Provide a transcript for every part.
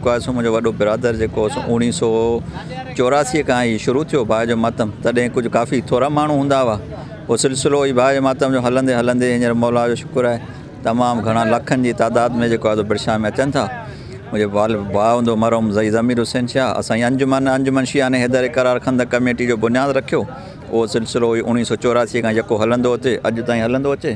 ڪواسو منهنجو وڏو برادر جيڪو اوڻيهه سؤ چوراسي کان هي شروع ٿيو ڀاء جو ماتم تڏهن ڪجهه ڪافي ٿورا ماڻهو هوندا هئا پوء سلسلو هي ڀاء جي ماتم جو هلندي هلندي هينئر مولا جو شڪر آهي تمام گهڻا لکن جي تعداد ۾ جيڪو آهي برشا ۾ اچن ٿا منهنجو والد ڀاء هوندو مرحوم زئي ضمير حسين شاهه اسان جي انجمن انجمن شيعان حيدر اقرار خندق ڪميٽي جو بنياد رکيو اهو سلسلو هي اوڻيهه سؤ چوراسي کان يڪو هلندو اچي اڄ تائين هلندو اچي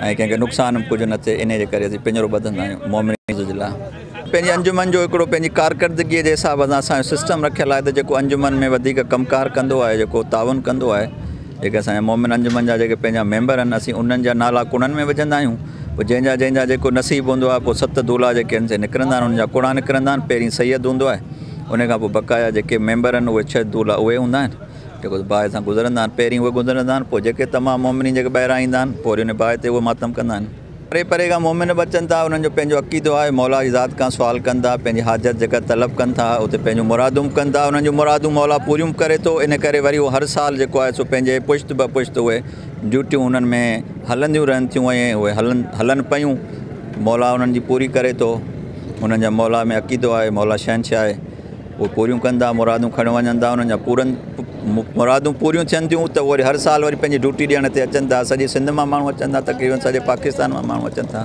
۽ ڪنهن کي نقصان به ڪجهه نه ٿئي انهي جي ڪري اسين پڃرو ٻڌندا آهيون مومنين جي لاء پنهنجي انجمن جو هڪڙو پنهنجي ڪارڪردگي جي حساب سان اسان جو سسٽم رکيل آهي ته جيڪو انجمن ۾ وڌيڪ ڪم ڪار ڪندو آهي جيڪو تعاون ڪندو آهي جيڪي اسان جا مومن انجمن جا جيڪي پنهنجا ميمبر آهن اسين انهن جا نالا ڪوڙن ۾ وجهندا آهيون پوء جنهن جا جنهن جا جيڪو نصيب هوندو آهي پوء ست دولا جيڪي آهن سي نڪرندا آهن انهن جا ڪوڙا نڪرندا آهن پهرين سيد هوندو آهي انهي کان پوء بقايا جيڪي ميمبر آهن اهي ڇهه دولا اهي هوندا آهن جيڪو ته باهه سان گذرندا آهن، پهرين اهي گذرندا آهن، پوء جيڪي تمام مؤمنين جيڪي ٻاهران ايندا آهن، پوء وري انهيء باهه تي اهي ماتم ڪندا آهن. پري پري کان مؤمن به اچن ٿا، انهن جو پنهنجو عقيدو آهي، مولا جي ذات کان سوال ڪن ٿا، پنهنجي حاجت جيڪا طلب ڪن ٿا، اتي پنهنجون مرادون به ڪن ٿا، انهن جون مرادون مولا پوريون به ڪري ٿو، ان ڪري وري اهو هر سال جيڪو آهي سو پنهنجي پشت به پشت اهي ڊيوٽيون انهن ۾ هلنديون رهن ٿيون ۽ اهي هلن هلن پيون، مولا انهن جي پوري ڪري ٿو، انهن جا مولا ۾ عقيدو آهي، مولا شهنشاهه. اهي پوريون ڪن ٿا مرادون کڻي وڃن ٿا انهن جا پورن مرادون پوريون ٿين ٿيون ته وري هر سال وري پنهنجي ڊيوٽي ڏيڻ تي اچن ٿا سڄي سنڌ مان ماڻهو اچن ٿا تقريبن سڄي پاڪستان مان ماڻهو اچن ٿا